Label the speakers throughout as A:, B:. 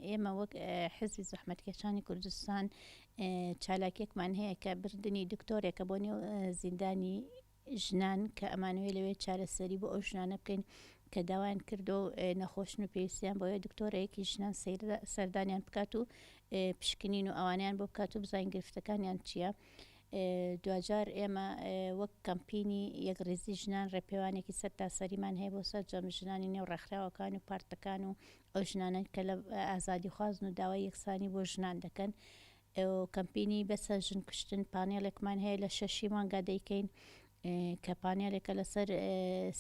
A: ئێمە وەک حزبی زەحمەتکێشانی کوردستان چالاکێکمان هەیە کە بردننی دکتۆرێکە بۆ نێو زیندانی ژنان کە ئەمانوێ لەوێ چارەسەری بۆ ئەو ژنانە بکەین کە داوایان کردو نەخۆشن و پێویستیان بۆیە دکتۆرەیەکی ژنان سەردانیان بکات و پشکنین و ئەوانیان بۆ بکات و بزانین گرفتەکانیان چییە؟ دواجار ئێمە وەک کەمپینی یەکڕیزی ژنان ڕێپێوانێکی سەرتاسەریمان هەیە بۆ سەرجەم ژنانی نێو ڕێکخراوەکان و پارتەکان و ئەو ژنانەن کە لە ئازادیخوازن و داوای یەکسانی بۆ ژنان دەکەن کەمپینی بەسە ژن کوشتن پانێڵێکمان هەیە لە شەشی مانگا دەیکەین کە پانێلێکە لەسەر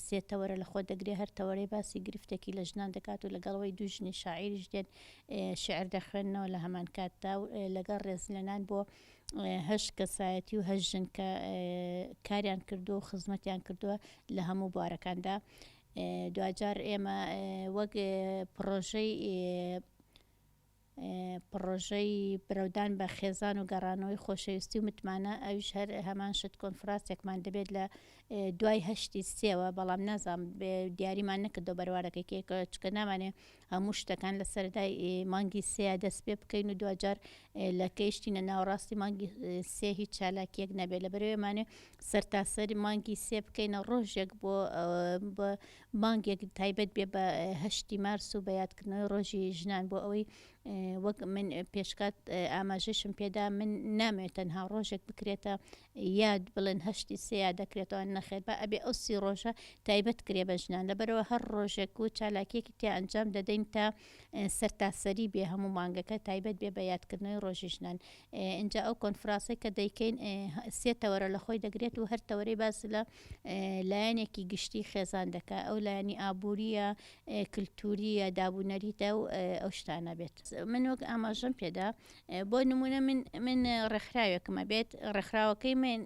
A: سێ تەوەرە لە خۆ دەگرێ هەر تەوەرەی باسی گرفتێکی لە ژنان دەکات و لەگەڵەوەی دوو ژنی شاعیریش دێن شعر دەخوێنەوە لە هەمان کاتدا و لەگەڵ ڕێزلێنان بۆ هەشت کەسایەتی و هەشت ژن کە کاریان کردو و خزمەتیان کردووە لە هەموو بوارەکاندا دواجار ئێمە وەک پڕۆژەی پڕۆژەی برەودان بە خێزان و گەڕانەوەی خۆشەویستی و متمانە ئەوش هەر هەمان شت کۆنفراتێکمان دەبێت لە دوای هەشتی سێوە بەڵام نازام دیاریمان نەکردو بەروارەکەی کێکە چکە نامانێ هەموو شتەکان لە سەرەتای مانگی سێیا دەست پێ بکەین و دواجار لە کەیشتینە ناوەڕاستی مانگی سێ هیچ چالاکیەک نەبێت لە بەرەوەمانێ سەرتاسەری مانگی سێ بکەینە ڕۆژێک بۆ مانگێک تایبەت بێ بە هەشتی مارس و بە یادکردنەوەی ڕۆژی ژنان بۆ ئەوەی وەک من پێشکات ئاماژەشم پێدا من نامێت تەنها ڕۆژێک بکرێتە یاد بڵێن هەشتی سێ یاد دەکرێتەوە نەخێر با ئەبێ ئەو سی ڕۆژە تایبەت کرێ بە ژنان لەبەرەوە هەر ڕۆژێک و چالاکیەکی تیا ئەنجام دەدەین تا سەرتاسەری بێ هەموو مانگەکە تایبەت بێ بە یادکردنەوەی ڕۆژی ژنان ئینجا ئەو کۆنفراسەی کە دەیکەین سێ تەوەرە لە خۆی دەگرێت و هەر تەوەرەی باس لە لایەنێکی گشتی خێزان دەکە ئەو لایەنی ئابووریە کللتوریە دابوونەریتە و ئەو شتانە بێت من وەک ئاماژەم پێدا بۆ نموونە من من ڕێکخراوێکم ئەبێت، ڕێکخراوەکەی من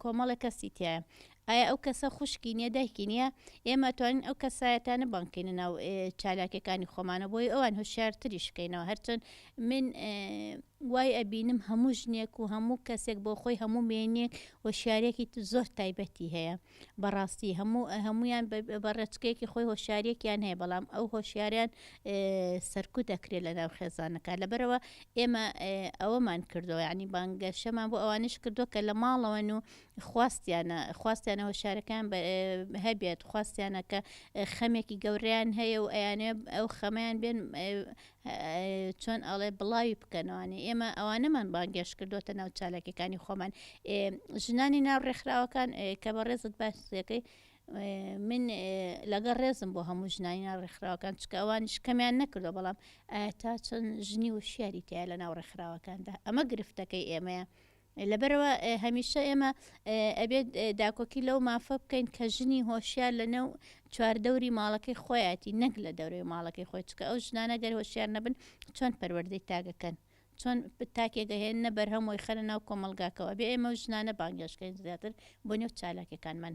A: کۆمەڵێک کەسی تیایە، ئایا ئەو کەسە خوشکی نییە، دایکی نییە؟ ئێمە ئەتوانین ئەو کەسایەتانە بانگ بکەینە ناو چالاکییەکانی خۆمانەوە بۆی ئەوان هۆشیارتریش بکەینەوە، هەرچەند من وای ئەبینم هەموو ژنێک و هەموو کەسێک بۆ خۆی هەموو مێینەک هۆشیارییەکی زۆر تایبەتی هەیە. بەڕاستی هەموو هەموویان بە ڕێچکەیەکی خۆی هۆشیارەکیان هەیە بەڵام ئەو هۆشیاریان سەرکوت دەکرێت لە ناو خێزانەکە لەبەرەوە ئێمە ئەوەمان کردو ینی بانگەشەمان بۆ ئەوانش کردو کە لە ماڵەوەن و خواستیانە خواستیانە هۆشارەکان هەبێت خواستیانە کە خەمێکی گەوریان هەیە و ئەیانێ ئەو خەمیان بێن چۆن ئەڵێ بڵاوی بکەنەوانێ ئێمە ئەوانەمان بانگێش کردوتە ناو چالاکەکانی خۆمان ژنانی ناو ڕێکخراوەکان کە بە ڕێزت باسەکەی من لەگە ڕێزم بۆ هەموو ژنانی ناو ڕێکخراوەکان چکە ئەوانش کەمیان نەکردو بەڵام تا چەند ژنی و شیاری تایە لە ناو ڕێکخراوەکاندا ئەمە گرفتەکەی ئێمەیە لەبەرئەوە هەمیشە ئێمە ئەبێت داکۆکی لەو مافە بکەین کە ژنی هۆشیار لە نێو چواردەوری ماڵەکەی خۆیاتی نەک لە دەورەی ماڵەکەی خۆی چکە ئەو ژنانە گەر هۆشیار نەبن چۆن پەروەردەی تاگەکەن چۆن تاکێکە هێن نە بەرهەم وی خەرە ناو کۆمەلگاکەەوە بێ ئێمە و ژنانە بانگێشکەین زیاتر بۆ نێو چالاکەکانمان.